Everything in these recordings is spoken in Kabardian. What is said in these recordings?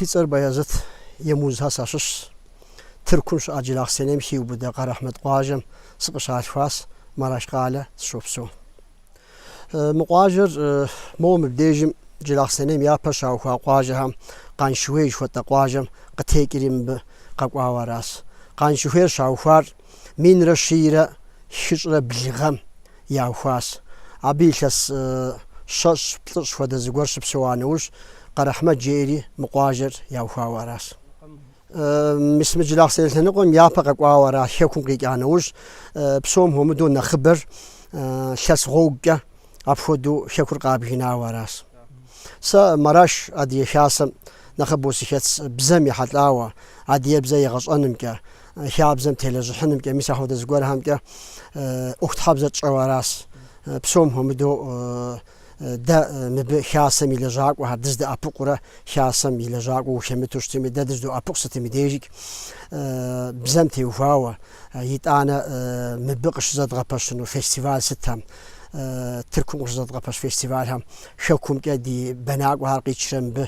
Си цӏэр Баязыт Емузхьэ сащыщщ. Тыркум щыӏэ Джылахъсэнейм хиубыдэ Къарэхьмэт къуажэм сыкъыщалъхуащ, Мараш къалэ сыщопсэу. Мы къуажэр моуэ мыбдежым Джылахъсэнейм япэ щаухуа къуажэхэм Къаншыуей жыхуэтӏэ къуажэм къытекӏри мыбы къэкӏуауэ аращ. Къаншыуейр щаухуар минрэ щийрэ хыщӏрэ блы гъэм яухуащ. Абы илъэс щэщӏ, плӏыщӏ хуэдэ зыгуэр щыпсэуа нэужь, Къэрэхьмэт жеӏэри мы къуажэр яухуауэ аращ. Мис мы Джылахъсэней лъэныкъуэм япэ къэкӏуауэ ара Хэкум къикӏа нэужь, псом хуэмыдэу нэхъыбэр лъэс гъуэгукӏэ апхуэдэу Хэкур къабгынауэ аращ. Сэ Мараш Адыгэ Хасэм нэхъыбэу сыхэтщ бзэм ехьэлӏауэ, адыгэбзэ егъэщӏэнымкӏэ, хабзэм телэжьыхьынымкӏэ, мис ахуэдэ зыгуэрхэмкӏэ ӏуэхутхьэбзэ тщӏэу аращ. Псом хуэмыдэу Дэ мыбы Хасэм и лэжьакӏуэхэр дыздэӏэпыкъурэ Хасэм и лэжьакӏуэ ухэмыту щытми, дэ дызыдоӏэпыкъу сытым и дежикӏ бзэм теухуауэ, итӏанэ мыбы къыщызэдгъэпэщыну фестиваль сытхэм, Тыркум къыщызэдгъэпэщ фестивальхэм Хэкумкӏэ ди бэнакӏуэхэр къитшрэ мыбы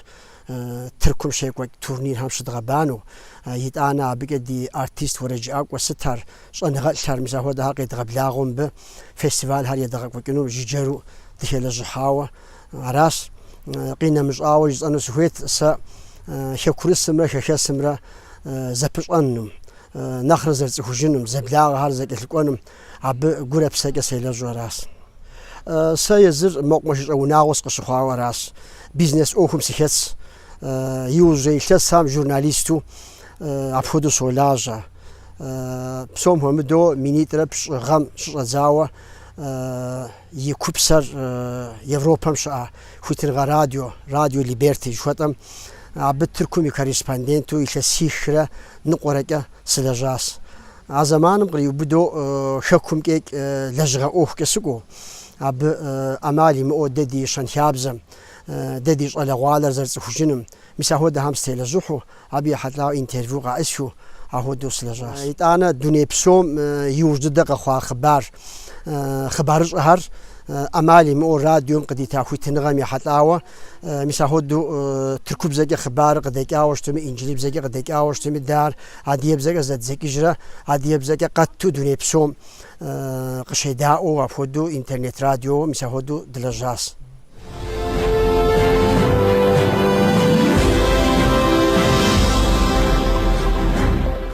Тыркум щекӏуэкӏ турнирхэм щыдгъэбану, итӏанэ абыкӏэ ди артист уэрэджыӏакӏуэ сытхэр, Щӏэныгъэлӏхэр, мис ахуэдэхэр къедгъэблагъэу мыбы фестивалхэр едгъэкӏуэкӏыну жыджэру дыхэлэжьыхьауэ аращ. Къинэмыщӏауэ жысӏэну сыхуейт сэ хэкурысымрэ хэхэсымрэ зэпыщӏэнум, нэхърэ зэрыцӏыхужынум, зэблагъэхэр зэкӏэлъыкӏуэнум абы гурэ псэкӏэ селэжьу аращ. Сэ езыр мэкъумэшыщӏэ унагъуэ сыкъыщыхъуауэ аращ. Бизнес ӏуэхум сыхэтщ. Иужьрей илъэсхэм журналисту апхуэдэу солажьэ. Псом хуэмыдэу минитӏрэ пщӏы гъэм щыщӏэдзауэ и купсэр Европэм щыӏэ Хуитыныгъэ радио, радио Либерти жыхуэтӏэм, абы Тыркум и корреспонденту илъэсихрэ ныкъуэрэкӏэ сылэжьащ. А зэманым къриубыдэу хэкумкӏикӏ лэжьыгъэ ӏуэхукӏэ сыкӏуэу, абы ӏэмал имыӏэу дэ ди щэнхабзэм, дэ ди щӏалэгъуалэр зэрыцӏыхужыным, мис ахуэдэхэм сытелэжьыхьу, абы ехьэлӏауэ интервью къаӏысхыу, ахуэдэу сылэжьащ. Итӏанэ дуней псом иужь дыдэ къэхъуа хъыбар, хъыбарыщӏэхэр ӏэмал имыӏэу радиом къыдита хуитыныгъэм ехьэлӏауэ, мис ахуэдэу тыркубзэкӏэ хъыбарыр къыдэкӏауэ щытми, инджылыбзэкӏэ къыдэкӏауэ щытми, дэ ар адыгэбзэкӏэ зэддзэкӏыжрэ адыгэбзэкӏэ къэтту дуней псом къыщедаӏуэу апхуэдэу интернет радиоуэ мис ахуэдэу дылэжьащ.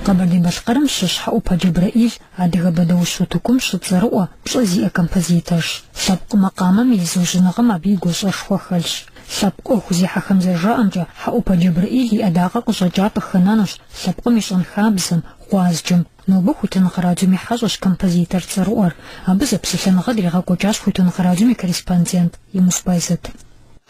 Къэбэрдей-Балъкъэрым щыщ Хьэӏупэ Джэбрэӏил адыгэ бэдэущ утыкум щыцӏэрыӏо, пщӏэ зиӏэ композиторщ. Лъэпкъ макъамэм и зыужьыныгъэм абы и гуащӏэшхуэ хэлъщ. Лъэпкъ ӏуэху зехьэхэм зэрыжаӏэмкӏэ, Хьэӏупэ Джэбрэӏил и ӏэдакъэ къыщӏэкӏар къыхэнэнущ лъэпкъым и щэнхабзэм, гъуазджэм, Нобэ Хуитыныгъэ радиом и хьэщӏэщ композитор цӏэрыӏуэр. Абы зэпсэлъэныгъэ дригъэкӏуэкӏащ Хуитыныгъэ радиом и корреспондент Емуз Байзэт.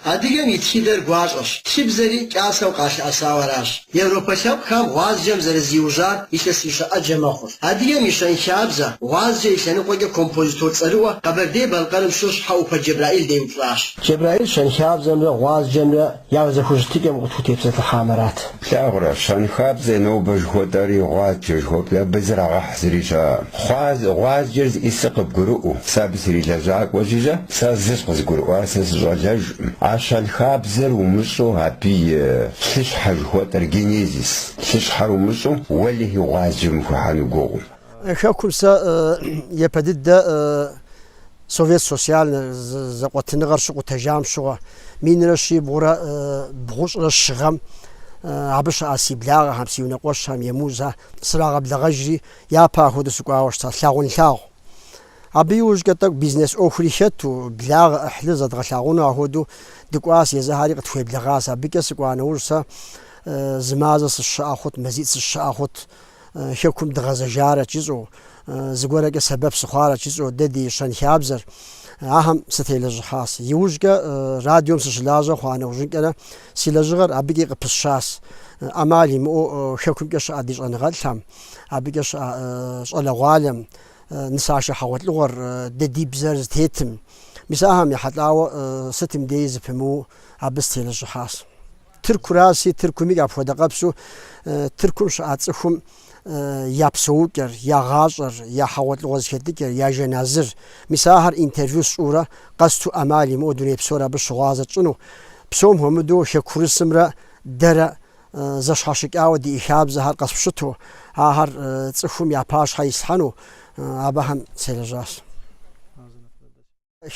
Адыгэм и тхыдэр гуащӏэщ, тхыбзэри кӏасэу къалъыӏэсауэ аращ. Европэ лъэпкъхэм гъуазджэм зэрызиужьар илъэсищэ ӏэджэ мэхъур. Адыгэм и щэнхабзэ, гъуазджэ и лъэныкъуэкӏэ композитор цӏэрыӏуэ Къэбэрдей-Балъкъэрым щыщ Хьэӏупэ Джэбрэӏил деупщӏащ. Джэбрэӏил щэнхабзэмрэ гъуазджэмрэ Я зэхущытыкӏэм укъытхутепсэлъыхьамэрат. Плъагъурэ, щэнхабзэ нобэ жыхуэтӏэри гъуазджэ жыхуэпӏи абы зрагъэхь зыри щыӏэ. Хъуаз, гъуазджэр зищӏысыр къыбгурыӏуэу, сэ абы срилэжьакӏуэ жысӏэ, сэ зыщ къызгурыӏуар сэ сыщӏэлэжкъым. А щэнхабзэр умыщӏу абы и лъыщхьэ жыхуэтӏэр, генезис, лъыщхьэр умыщӏу уэлэхьи гъуазджэм ухуихьэну гугъу. Хэкум сэ япэ дыдэ Совет социальнэ зэкъуэтыныгъэр щыкъутэжам щыгъуэ, минрэ щибгъурэ бгъущӏрэ щы гъэм абы щыӏа си благъэхэм, си унэкъуэщхэм, Емузхэ срагъэблэгъэжри, япэ ахуэдэу сыкӏуауэ щытащ лъагъунлъагъу. Абы иужькӏэ тӏэкӏу бизнес ӏуэхури хэту, благъэ ӏыхьлыр зэдгъэлъагъуну ахуэдэу дыкӏуащ, езыхэри къытхуеблэгъащ. Абыкӏэ сыкӏуа нэужь сэ зы мазэ сыщыӏэ хъут, мазитӏ сыщыӏэ хъут. Хэкум дгъэзэжарэт жысӏэу, зыгуэркӏэ сэбэп сыхъуарэт жысӏэу дэ ди щэнхабзэр ахэм сытелэжьыхьащ. Иужькӏэ радиом сыщылажьэ хъуа нэужьынкӏэрэ си лэжьыгъэр абыкӏи къыпысщащ. ӏэмал имыӏэу Хэкумкӏэ щыӏэ ди щӏэныгъэлӏхэм, абыкӏэ щыӏэ щӏалэгъуалэм, нысашэ хьэгъуэлӏыгъуэр, дэ ди бзэр зытетым, мис ахэм ехьэлӏауэ сытым деи зыпымыуу абы сытелэжьыхьащ. Тырку раси тыркуми апхуэдэ къэпсу Тыркум щыӏа цӏыхум я псэукӏэр, я гъащӏэр, я хьэгъуэлӏыгъуэ зэхэтыкӏэр, я жэназыр. Мис ахэр интервью сщӏурэ къэсту ӏэмал имыӏэу дуней псор абы щыгъуазэ тщӏыну. Псом хуэмыдэу хэкурысымрэ дэрэ зэщхьэщыкӏауэ ди хабзэхэр къэспщыту, ахэр цӏыхум я пащхьэ ислъхьэну абыхэм селэжьащ.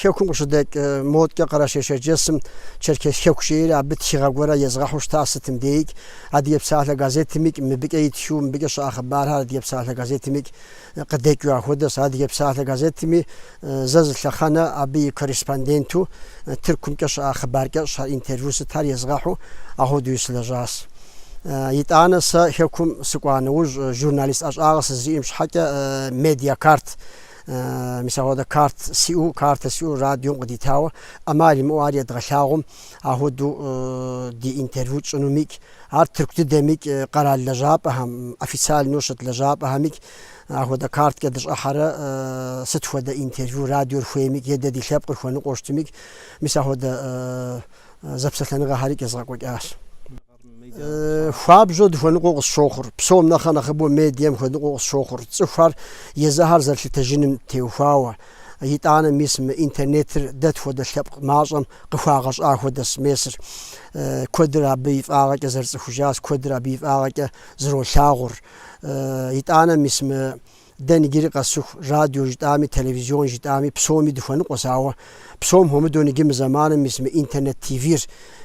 Хэкум къыщыдэкӏ модкӏэ Къэрэшей-Шэрджэсым Черкес хэку жейри абы тхыгъэ гуэрэ езгъэхьу щыта сытым деикӏ, Адыгэ псалъэ газетымикӏ, мыбыкӏэ итхыу, мыбыкӏэ щыӏэ хъыбархэр Адыгэ псалъэ газетымикӏ къыдэкӏыу ахуэдэщ. Адыгэ псалъэ газетми зэ зы лъэхъэнэ абы и корреспонденту Тыркумкӏэ щыӏа хъыбаркӏэ щхьэ интервью сытхэр езгъэхьу ахуэдуи сылэжьащ. Итӏанэ сэ хэкум сыкӏуа нэужь журналист ӏэщӏагъэ сызэриӏэм щхьэкӏэ медиакарт Мис ахуэдэ карт сиӏэу, картэ сиӏэу радиом къыдитауэ ӏэмал имыӏэу ар едгъэлъагъум, ахуэдэу ди интервью тщӏынумикӏ, ар тырку дыдэмикӏ, къэрал лэжьапӏэхэм, официальнэу щыт лэжьапӏэхэмикӏ ахуэдэ карткӏэ дыщӏыхьэрэ сыт хуэдэ интервью радиор хуеймикӏ е дэ ди лъэпкъыр хуэныкъуэу щытымикӏ, мис ахуэдэ зэпсэлъэныгъэхэрикӏ езгъэкӏуэкӏащ. хуабжьу дыхуэныкъуэу къысщохъур, псом нэхъ нэхъыбэу медиэм хуэныкъуэу къысщохъур, цӏыхухэр езыхэр зэрылъытэжыным теухуауэ. Итӏанэ мис мы интернетыр дэ тхуэдэ лъэпкъ мащӏэм къыхуагъэщӏа хуэдэщ месыр. Куэдыр абы и фӏагъэкӏэ зэрыцӏыхужащ, куэдыр абы и фӏагъэкӏэ зролъагъур. Итӏанэ мис мы Дэ ныджыри къэсыху, радио жытӏами, телевизион жытӏами, псоми дыхуэныкъуэщ, ауэ псом хуэмыдэу ныджы мы зэманым мис мы интернет ТВ-р,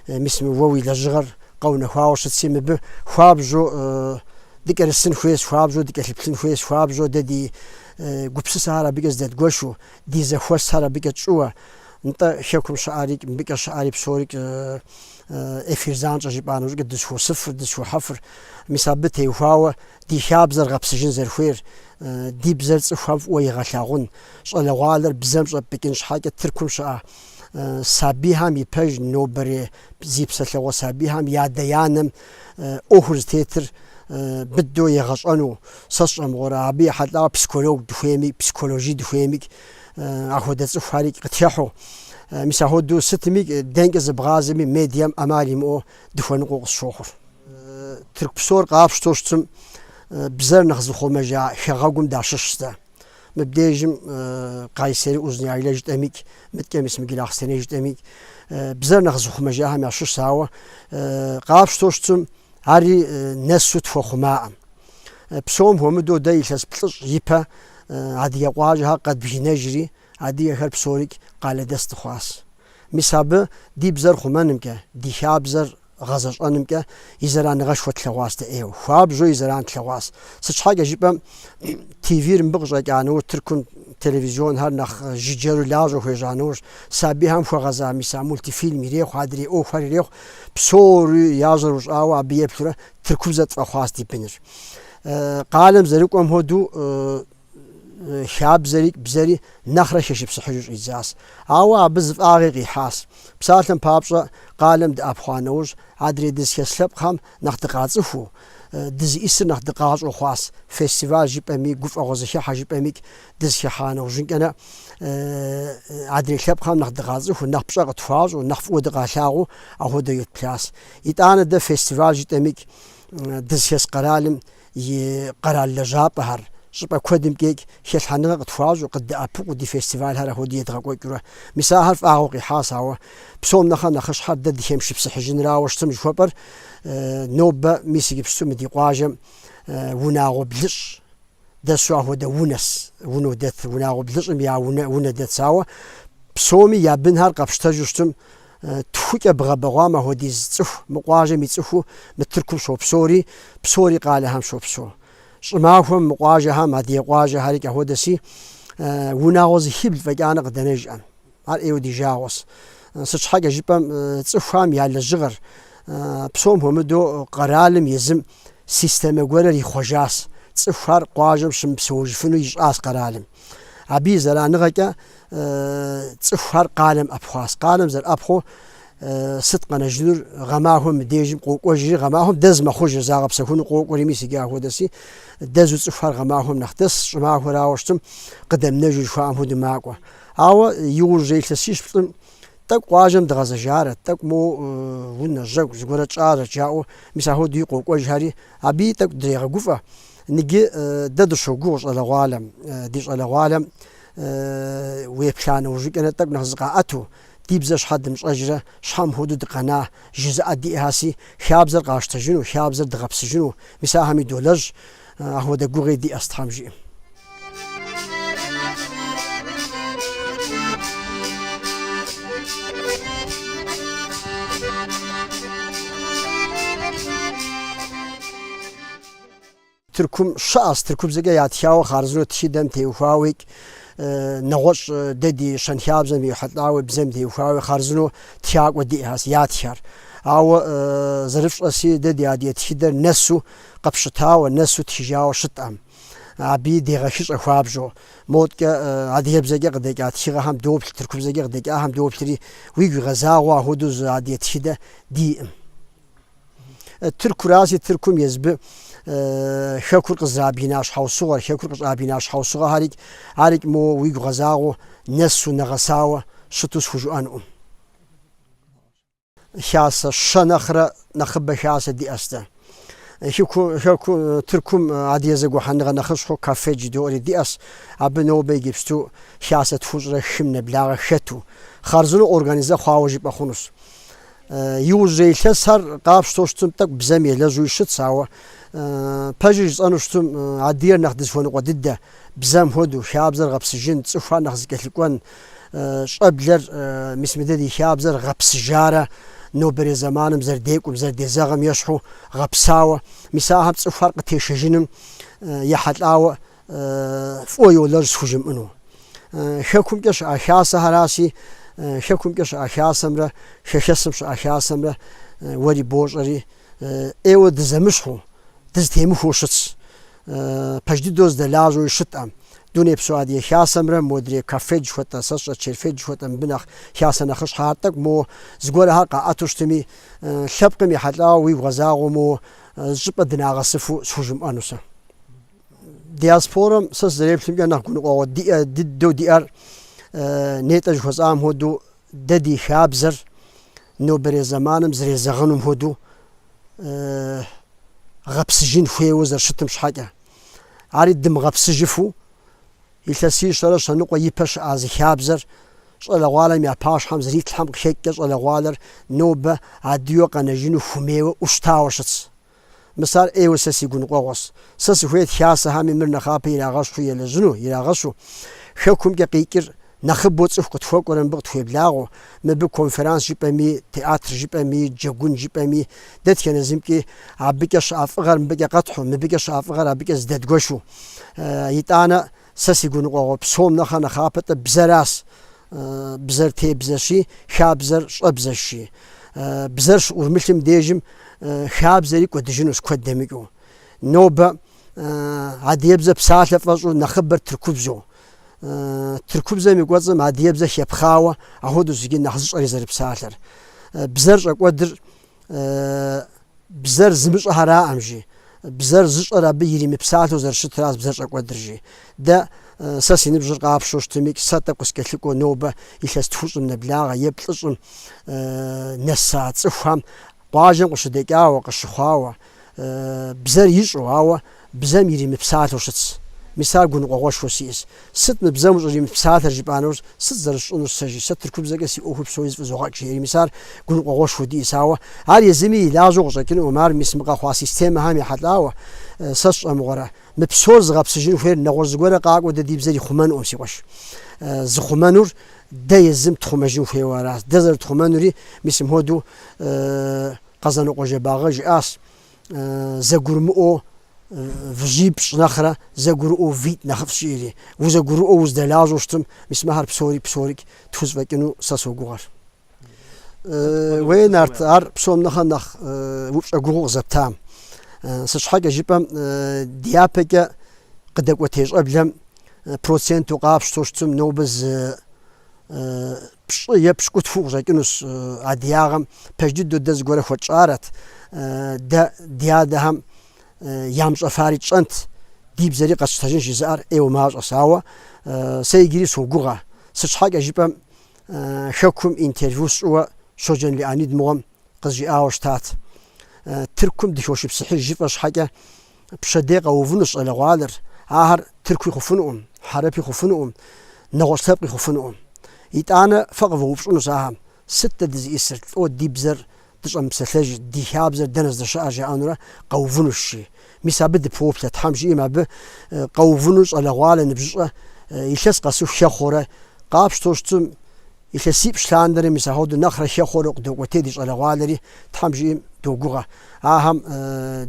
мис мы уэ уи лэжьыгъэр къэунэхуауэ щытси, мыбы хуабжьу дыкӏэрысын хуейщ, хуабжьу дыкӏэлъыплъын хуейщ, хуабжьу дэ ди гупсысэхэр абыкӏэ здэдгуэшу, ди зэхуэсхэр абыкӏэ тщӏыуэ, нтӏэ, Хэкум щыӏэрикӏ, мыбыкӏэ щыӏэри псорикӏ эфир занщӏэ жыпӏа нэужыкӏэ дызхуосыфыр, дызхохьэфыр, мис абы теухуауэ Ди хабзэр гъэпсыжын зэрыхуейр ди бзэр цӏыхухэм фӏыуэ егъэлъагъун, щӏалэгъуалэр бзэм щӏэпӏыкӏын щхьэкӏэ Тыркум щыӏэ сабийхэм и пэж нобэрей зи псэлъэгъуэ сабийхэм ядэ-янэм ӏуэхур зытетыр быдэу егъэщӏэну сэ сщӏэ мыгъуэрэ? Абы ехьэлӏауэ психолог дыхуейми, психоложи дыхуейми, ахуэдэ цӏыхухэри къытехьу. Мис ахуэдэу сытми, дэнкӏэ зыбгъазэми, медиэм ӏэмал имыӏэу дыхуэныкъуэу къысщохъур. Тырку псор къапщтэу щытым бзэр нэхъ зыхъумэжа хэгъэгум дащыщщ дэ. Мыбдежым Кайсери Узуняйлэ жытӏэмикӏ, мыдкӏэ мис мы Гилахъстэней жытӏэмикӏ бзэр нэхъ зыхъумэжахэм ящыщ, ауэ къапщтэу щытым ари нэсу тхуэхъумаӏым. Псом хуэмыдэу дэ илъэс плӏыщӏ ипэ адыгэ къуажэхэр къэдбгынэжри, адыгэхэр псорикӏ къалэдэс дыхъуащ. Мис абы ди бзэр хъумэнымкӏэ, ди хабзэр гъэзэщӏэнымкӏэ и зэраныгъэшхуэ тлъэгъуащ дэ, ейуэ хуабжьу и зэран тлъэгъуащ. Сыт щхьэкӏэ жыпӏэм, ТВ-р мыбы къыщӏэкӏа нэужь Тыркум телевизионхэр нэхъ жыджэру лажьэу хуежьа нэужь, сабийхэм хуэгъэза мис а мультифильм ирехъу, адрей ӏуэхухэр ирехъу, псори я жьэр ущӏауэ абы еплъурэ тыркубзэ тфӏэхъуащ ди быныр. Къалэм зэрыкӏуэм хуэдэу хабзэри бзэри нэхърэ хэшыпсыхьыжу щӏидзащ. Ауэ абы зы фӏагъи къихьащ. Псалъэм папщӏэ, къалэм дыӏэпхъуа нэужь, адрей дызыхес лъэпкъхэм нэхъ дыкъацӏыхуу, дызиӏысыр нэхъ дыкъащӏэу хъуащ. Фестиваль жыпӏэми, гуфӏэгъуэ зыхехьэ жыпӏэмикӏ дызыхехьа нэужьынкӏэрэ адрей лъэпкъхэм нэхъ дыкъацӏыхуу, нэхъ пщӏэ къытхуащӏу, нэхъ фӏыуэ дыкъалъагъуу ахуэдэу етплъащ. Итӏанэ дэ фестиваль жыпӏэмикӏ дызыхес къэралым и къэрал лэжьапӏэхэр щӏыпӏэ куэдымкӏэ икӏ хэлъхьэныгъэ къытхуащӏу, къыддэӏэпыкъуу ди фестивалхэр ахуэдэ едгъэкӏуэкӏыурэ. Мис ахэр фӏагъыу къихьас, ауэ псом нэхърэ нэхъыщхьэр дэ дыхэмышыпсыхьыжынырауэ щытын жыхуэпӏэр нобэ, мис иджыпсту мы ди къуажэм унагъуэ блыщӏ дэсу ахуэдэ унэс, унэу дэт, унагъуэ блыщӏым я унэ, унэ дэтс. Ауэ псоми я бынхэр къэпщтэжу щытым, Тхукӏэ бгъэбэгъуам ахуэдиз цӏыху мы къуажэм и цӏыхуу мы тыркум щопсори, псори къалэхэм щопсо. Щӏымахуэм мы къуажэхэм, адыгэ къуажэхэрикӏ ахуэдэси, унагъуэ зыхибл фӏэкӏанэ къыдэнэжӏэм. Ар ӏейуэ ди жагъуэс. Сыт щхьэкӏэ жыпӏэм, цӏыхухэм я лэжьыгъэр, псом хуэмыдэу къэралым езым системэ гуэрыр ихъуэжас, цӏыхухэр къуажэм щымыпсэужыфыну ищӏас къэралым. Абы и зэраныгъэкӏэ цӏыхухэр къалэм ӏэпхъуас. Къалэм зэрыӏэпхъуэу сыт къэнэжынур гъэмахуэм мы дежым къокӏуэжри, гъэмахуэм дэз мэхъужыр загъэпсэхуну къокӏуэри мис иджы ахуэдэси, дэзу цӏыхухэр гъэмахуэм нэхъ дэс, щӏымахуэрауэ щытым къыдэмынэжу жыхуаӏэм хуэдэу макӏуэ. Ауэ иужьрей илъэсищ плӏым тӏэкӏу къуажэм дыгъэзэжарэт, тӏэкӏу моу унэ, жьэгу зыгуэрэ тщӏарэт жаӏэу, мис ахуэдэуи къокӏуэжхэри, абыи тӏэкӏу дрегъэгуфӏэ. Ныджы дэ дыщогугъ щӏалэгъуалэм, ди щӏалэгъуалэм Уеплъа нэужькӏэнэ тӏэкӏу нэхъ зыкъаӏэту, ди бзэ щхьэ дымыщӏэжрэ, щхьэ мыхуэдэу дыкъэна, жызыӏэ диӏэхэси, хабзэр къащтэжыну, хабзэр дыгъэпсыжыну, мис ахэми долэжь, ахуэдэ гугъи диӏэс Тхьэм жиӏэм. Тыркум щыӏэс тыркубзэкӏэ ятхауэ хъарзынэу тхыдэм теухуауикӏ, нэгъуэщӏ дэ ди щэнхабзэм ехьэлӏауи бзэм теухуауи хъарзынэу тхакӏуэ диӏэхэс, ятхэр. Ауэ зэрыфщӏэси дэ ди адыгэ тхыдэр нэсу къыпщытауэ, нэсу тхыжауэ щытӏэм, абыи дегъэхыщӏэ хуабжьу. Модкӏэ адыгэбзэкӏэ къыдэкӏа тхыгъэхэм доплъ, тыркубзэкӏэ къыдэкӏахэм доплъри, уигу игъэзагъэу ахуэдэу зы адыгэ тхыдэ диӏым. Э, Тыркураси Тыркум езбы э, хэкур къызрабгина щхьэусыгъуэр, хэкур къыщӏабгина щхьэусыгъуэхэрикӏ мо уигу игъэзагъэу нэсу нэгъэсауэ щыту схужыӏэнкъым. Хасэ щэ нэхърэ нэхъыбэ хасэ диӏэс дэ Тыркум, адыгэ зэгухьэныгъэ нэхъыщхьэу КАФФЕД жыдоӏэри диӏэс, абы нобэ иджыпсту хасэ тхущӏрэ хым нэблагъэ хэту, хъарзынэу организэ хъуауэ жыпӏэ хъунущ. Иужьрей илъэсхэр къапщтэу щытым тӏэкӏу бзэм елэжьуи щытщ, ауэ пэжыр жысӏэну щытым адыер нэхъ дызыхуэныкъуэ дыдэ, бзэм хуэдэу, хабзэр гъэпсыжын, цӏыхухэр нэхъ зэкӏэлъыкӏуэн, щӏэблэр, мис мыдэ ди хабзэр гъэпсыжарэ, нобэрей зэманым зэрыдекӏум, зэрыдезэгъым ещхьу гъэпсауэ, мис ахэм цӏыхухэр къытешэжыным ехьэлӏауэ фӏыуэ йолэжь схужымыӏэну. Хэкумкӏэ щыӏэ хасэхьэраси, хэкумкӏэ щыӏэ хасэмрэ, хэхэсым щыӏэ хасэмрэ уэри бощӏэри, ӏейуэ дызэмыщхьу, дызэтемыхуэу щытщ. Пэж дыдэу здэлажьэуи щытӏэм. Дунейпсо Адыгэ хасэмрэ модрей КАФФЕД жыхуэтӏэ, сэ сщӏэ Черфед жыхуэтӏэ мыбы нэхъ хасэ нэхъыщхьэхэр тӏэкӏу моуэ, зыгуэрхэр къаӏэту щытми, лъэпкъым ехьэлӏауэ уигу гъэзагъэу моуэ, зыщӏыпӏэ дынагъэсыфу схужымыӏэну сэ. Диаспорэм сэ сызэреплъымкӏэ нэхъ гуныкъуэгъуэ дыдэу диӏэр нетӏэ жыхуэсӏам хуэдэу дэ ди хабзэр нобэрей зэманым зрезэгъынум хуэдэу гъэпсыжын хуейуэ зэрыщытым щхьэкӏэ. Ари дымыгъэпсыжыфу илъэсищэрэ щэныкъуэ ипэ щыӏа зы хабзэр щӏалэгъуалэм я пащхьэм зритлъхьэм къыхекӏкӏэ щӏалэгъуалэр нобэ адыйуэ къэнэжыну хумейуэ ӏущтауэ щытщ. Мис ар ӏейуэ сэ си гуныкъуэгъуэщ. Сэ сыхуейт хасэхэми мыр нэхъапэ ирагъэщу елэжьыну, ирагъэщу. Хэкумкӏэ къикӏыр нэхъыбэу цӏыху къытхуэкӏуэрэ мыбы къытхуеблагъэу, мыбы конферанс жыпӏэми, театр жыпӏэми, джэгун жыпӏэми, дэтхэнэ зымкӏи, абыкӏэ щыӏэ фӏыгъэр мыбыкӏэ къэтхьу, мыбыкӏэ щыӏэ фӏыгъэр абыкӏэ здэдгуэшу. Итӏанэ. Сэ си гуныкъуэгъуэ псом нэхъэ нэхъапэтӏэ бзэрас. Бзэр тебзэщи, хабзэр щӏэбзэщи. Бзэр щыӏурмылъым дежым хабзэри кӏуэдыжынущ куэд дэмыкӏыу. Нобэ адыебзэ псалъэ фӏэщӏу нэхъыбэр тыркубзэу. Тыркубзэм и кӏуэцӏым адыебзэ хепхъауэ, ахуэдэу зыджи нэхъ зыщӏэри зэрыпсалъэр. Бзэр щӏэкӏуэдыр бзэр зымыщӏэхьэраӏэм жи, бзэр зыщӏэр абы иримыпсалъэу зэрыщытраз бзэр щӏэкӏуэдыр жи. Дэ сэ си ныбжьыр къапщтэу щытымикӏ, сэ тӏэкӏу къыскӏэлъыкӏуэу нобэ илъэс тхущӏым нэблагъэ е плӏыщӏым нэса цӏыхухэм къуажэм къыщыдэкӏауэ, къыщыхъуауэ, бзэр ищӏэу, ауэ бзэм иримыпсалъэу щытщ. Мис ар гуныкъуэгъуэшхуэ сиӏэщ. Сыт мы бзэм ущӏыримыпсалъэр жыпӏанэу сыт зэрысщӏынур стэ жи? Сэ тыркубзэкӏэ си ӏуэхур псори зэфӏызогъэкӏ, жери мис ар гуныкъуэгъуэшхуэ диӏэс, ауэ ар езыми и лажьэу къыщӏэкӏынукъым, ар мис мы къэхъуа системэхэм ехьэлӏауэ, сэ сщӏэмыгъуэрэ? Мы псор зыгъэпсыжын хуейр нэгъуэщӏ зыгуэрэ къакӏуэу дэ ди бзэр ихъумэнукъым, си къуэш. Зыхъумэнур дэ езым тхъумэжын хуейуэ аращ, дэ зэрытхъумэнури мис мыхуэдэу Къэзанокъуэ Жэбагъы жиӏащ, Зэгурымыӏуэу выжьипщӏ нэхърэ зэгурыӏуэу витӏ нэхъыфӏщ жиӏэри. Узэгурыӏуэу уздэлажьэу щытым, мис мыхьэр псори псорикӏ тхузэфӏэкӏыну сэ согугъэр. Уей, Нарт, ар псом нэхърэ нэхъ упщӏэ гугъу къызэптам. Сыт щхьэкӏэ жыпӏэм, дяпэкӏэ къыдэкӏуэтей щӏэблэм проценту къапщтэу щытым, нобэ зы Пщӏы е пщыкӏутху къыщӏэкӏынущ адыгагъэм пэж дыдэу дэ зыгуэрэ хуэтщӏарэт. Дэ ди адэхэм ямыщӏэфари тщӏэнт, ди бзэри къэсщтэжынщ жызыӏэр ӏейуэ мащӏэщ. Ауэ сэ иджыри согугъэ. Сыт щхьэкӏэ жыпӏэм Хэкум интервью сщӏыуэ Щоджэн Леонид мыгъуэм къызжиӏауэ щытат. Тыркум дыхошыпсыхьыж жыфӏэ щхьэкӏэ пщэдей къэувынущ щӏалэгъуалэр, ахэр тыркуи хъуфынукъым, хьэрэпи хъуфынукъым, нэгъуэщӏ лъэпкъи хъуфынукъым. Итӏанэ фэ къывэупщӏынущ ахэм, сыт дэ дызищӏысыр, лӏо ди бзэр дыщӏэмыпсэлъэжыр, ди хабзэр дэнэ здэщыӏэр жаӏэнурэ къэувынущ, жи. Мис абы дыпоплъэ, Тхьэм жиӏэм абы къэувыну щӏалэгъуалэ ныбжьыщӏэ илъэс къэсыху хэхъуэурэ, къапщтэу щытым Илъэсипщӏ лъандэрэ мис ахуэдэу нэхърэ хэхъуэурэ къыдокӏуэтей ди щӏалэгъуалэри, Тхьэм жиӏэм догугъэ. Ахэм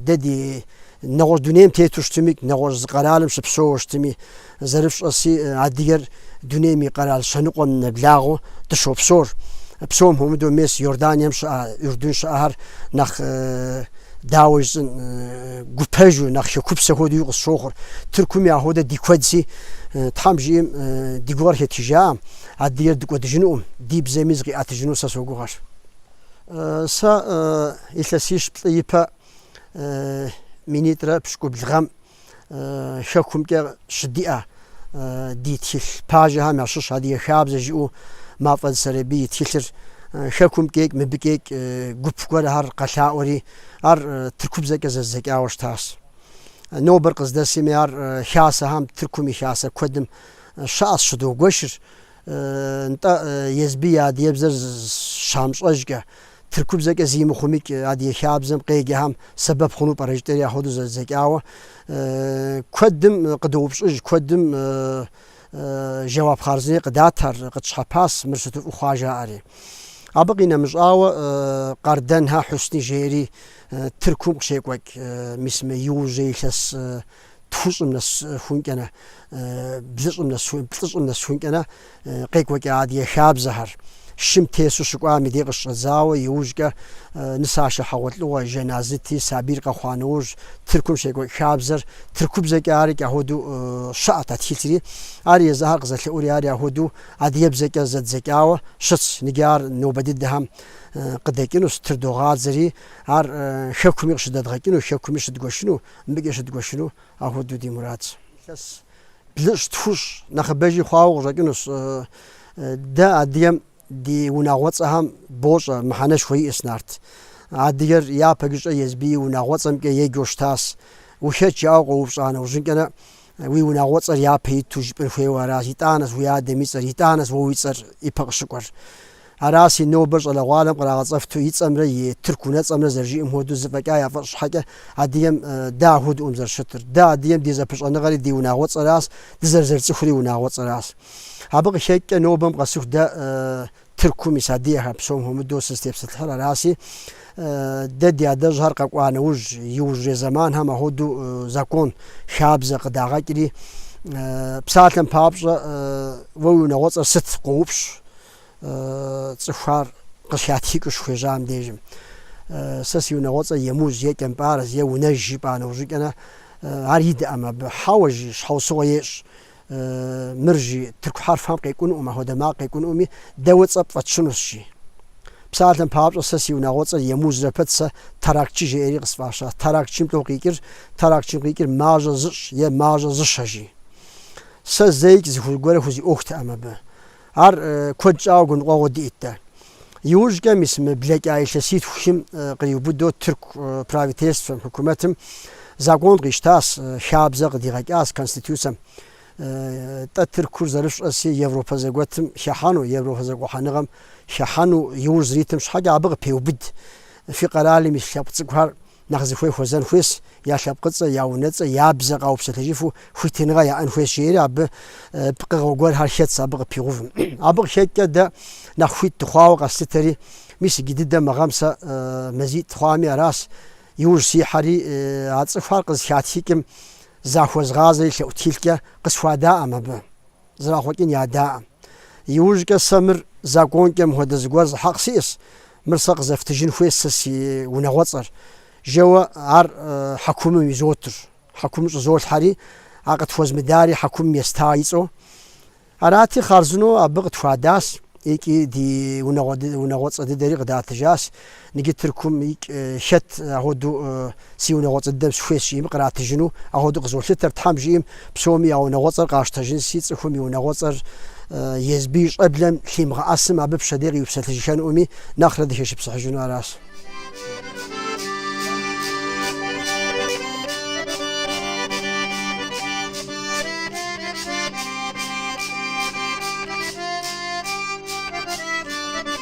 дэ ди нэгъуэщӏ дунейм тету щытми, нэгъуэщӏ зы къэралым щыпсэууэ щытми, зэрыфщӏэси, адыгэр дунейм и къэрал щэныкъуэм нэблагъэу дыщопсор. Псом хуэмыдэу мес Иорданием щыӏэ, Урдун щыӏэхэр нэхъ дауэ жысӏэн гупэжу, нэхъ хекупсэ хуэдэуи къысщохъур. Тыркуми ахуэдэ ди куэдси, Тхьэм жиӏэм ди гугъэр хэтхыжакъым, Адыгэр дыкӏуэдыжынукъым, ди бзэми зыкъиӏэтыжыну сэ согугъэр. Сэ илъэсищ плӏы ипэ минитӏрэ пщыкӏубл гъэм хэкумкӏэ щыдиӏэ ди тхылъ пажэхэм ящыщ Адыгэ хабзэ жиӏэу Мафӏэдз Сэрэбий и тхылъыр хэкумкӏикӏ, мыбыкӏикӏ гуп гуэрхэр къэлъаӏуэри, ар тыркубзэкӏэ зэздзэкӏауэ щытащ. Нобэр къыздэсми ар хасэхэм, Тыркум и хасэ куэдым Щыӏэщ щыдогуэшыр, нтӏэ, езыбы и адыгэбзэр щамыщӏэжкӏэ, тыркубзэкӏэ зы мыхъумикӏ адыгэ хабзэм къеджэхэм сэбэп хъуну пӏэрэ жытӏэри ахуэдэу зэдзэкӏауэ куэдым къыдоупщӏыж, куэдым жэуап хъарзынэри къыдат ар къытщхьэпас, мыр сыту фӏы хъуа жаӏэри. Абы къинэмыщӏауэ Къардэнхэ Хьусни жери Тыркум къыщекӏуэкӏ, мис мы иужьрэ илъэс Тхущӏым нэсхункӏэнэ, блыщӏым нэс, плӏыщӏым нэсхункӏэнэ къекӏуэкӏа адыгэ хабзэхэр. Шым тесу щыкӏуам и дей къыщыщӏэдзауэ, иужькӏэ нысащэ хьэгъуэлӏыгъуэ жэназыти, сабийр къэхъуа нэужь, Тыркум щекӏуэкӏ хабзэр тыркубзэкӏэ ари кӏахуэду щыӏэт, а тхылъри ар езыхэр къызэлъэӏури ари ахуэду адыгэбзэкӏэ зэдзэкӏауэ щытщ. Ныджы ар нобэ дыдэхэм къыдэкӏынущ, тырыдогъадзэри, ар хэкуми къыщыдэдгъэкӏыну, хэкуми щыдгуэшыну Мыбыкӏэ щыдгуэшыну ахуэдэу ди мурадщ. Илъэс блыщӏ, тхущӏ нэхъыбэжи хъуауэ къыщӏэкӏынущ. Дэ адыгэм ди унагъуэцӏэхэм бощӏэ, мыхьэнэшхуэ иӏэщ нарт. Адыгэр япэ гыщӏэ езбы и унагъуэцӏэмкӏэ еджэу щытащ. Ухэт жаӏэу къоупщӏа нэужьынкӏэнэ Уи унагъуэцӏэр япэ иту жыпӏэн хуейуэ аращ, итӏанэщ уи адэм и цӏэр, итӏанэщ уэ уи цӏэр ипэ къыщыкӏуэр. Аращи нобэр щӏалэгъуалэм кърагъэцӏэфту и цӏэмрэ и тырку унэцӏэмрэ зэрыжиӏэм хуэдэу зэфӏэкӏа яфӏэщӏ щхьэкӏэ адыгэм дэ ахуэдэӏэм зэрыщытыр. Дэ адыгэм ди зэпыщӏэныгъэри ди унагъуэцӏэращ, дызэрызэрыцӏыхури унагъуэцӏэращ. Абы къыхэкӏкӏэ нобэм къэсыху дэ Тыркум ис адыгэхэр псом хуэмыдэу сызытепсэлъыхьыр араси, дэ ди адэжьхэр къэкӏуа нэужь, иужьрей зэманхэм ахуэдэу закон, хабзэ къыдагъэкӏри, псалъэм папщӏэ уэ уи унагъуэцӏэр сыт къоупщӏ цӏыхухэр къыщыхатхыкӏыу щыхуежьам дежым. Сэ си унагъуэцӏэр Емуз, е Кӏэмпӏарэс, е Унэж жыпӏа нэужьыкӏэнэ ар идэӏэм абы. Хьэуэ, жи, щхьэусыгъуэ ещӏ. Мыр, жи, тырку хьэрфхэм къекӏунукъым, ахуэдэ макъ къекӏунукъыми, дэ уэ цӏэ пфӏэтщынущ, жи. Псалъэм папщӏэ, сэ си унагъуэцӏэр Емузрэ пэт сэ Таракчы жеӏэри къысфӏащащ. Таракчым тӏу къикӏыр, Таракчым къикӏыр мажьэ зыщӏ е мажьэ зыщэ, жи. Сэ зэикӏ зыхужь гуэрэ хузиӏуэхутэкъым абы. Ар куэд щӏауэ гуныкъуэгъуэу диӏэт дэ. Иужькӏэ мис мы блэкӏа илъэситху хим къриубыдэу тырку правительствэм, хьукумэтым, закон къищтащ, хабзэ къыдигъэкӏащ Конституцэм. Тӏэ Тыркур зэрыфщӏэси Европэ зэгуэтым хыхьэну, Европэ зэгухьэныгъэм хыхьэну иужь зэритым щхьэкӏэ абы къыпеубыд фи къэралым ис лъэпкъ цӏыкӏухэр. Нэхъ зыхуей хуэзэн хуейщ я лъэпкъыцӏэ, я унэцӏэ, я бзэ къаупсэлъэжыфу хуитыныгъэ яӏэн хуейщ, жери абы пкъыгъуэ гуэрхэр хэтщ абы къыпигъэувым. Абы къыхэкӏкӏэ дэ нэхъ хуит дыхъуауэ къэслъытэри, мис иджы дыдэ мы гъэм сэ мазитӏ хъуами аращ, иужь сихьэри, а цӏыхухэр къызыхатхыкӏым захуэзгъазэри лъэӏу тхылъкӏэ къысхуадаӏэм абы. Зэрахъуэкӏын ядаӏэм. Иужькӏэ сэ мыр законкӏэ мыхуэдэ зыгуэр зы хьэкъ сиӏэс, мыр сэ къызэфтыжын хуейс сэ си унагъуэцӏэр, жэуэ ар хьэкумым изотыр. Хьэкумым щӏызолъхьэри, а къытхуэзмыдари хьэкумым еста ицӏэу. Арати, хъарзынэу абы къытхуадащ икӏи ди унагъуэ, унагъуэцӏэ дыдэри къыдатыжащ. Ныджы Тыркум икӏ хэт ахуэду си унагъуэцӏэ дыдэм сыхуейщ жиӏэми къратыжыну ахуэду къызолъытэр, Тхьэм жиӏэм псоми я унагъуэцӏэр къащтэжынщи цӏыхум и унагъуэцӏэр езбы и щӏэблэм лъимыгъэӏэсым абы пщэдей къиупсэлъыжыххэнуӏыми нэхърэ дыхэшыпсыхьыжыну аращ.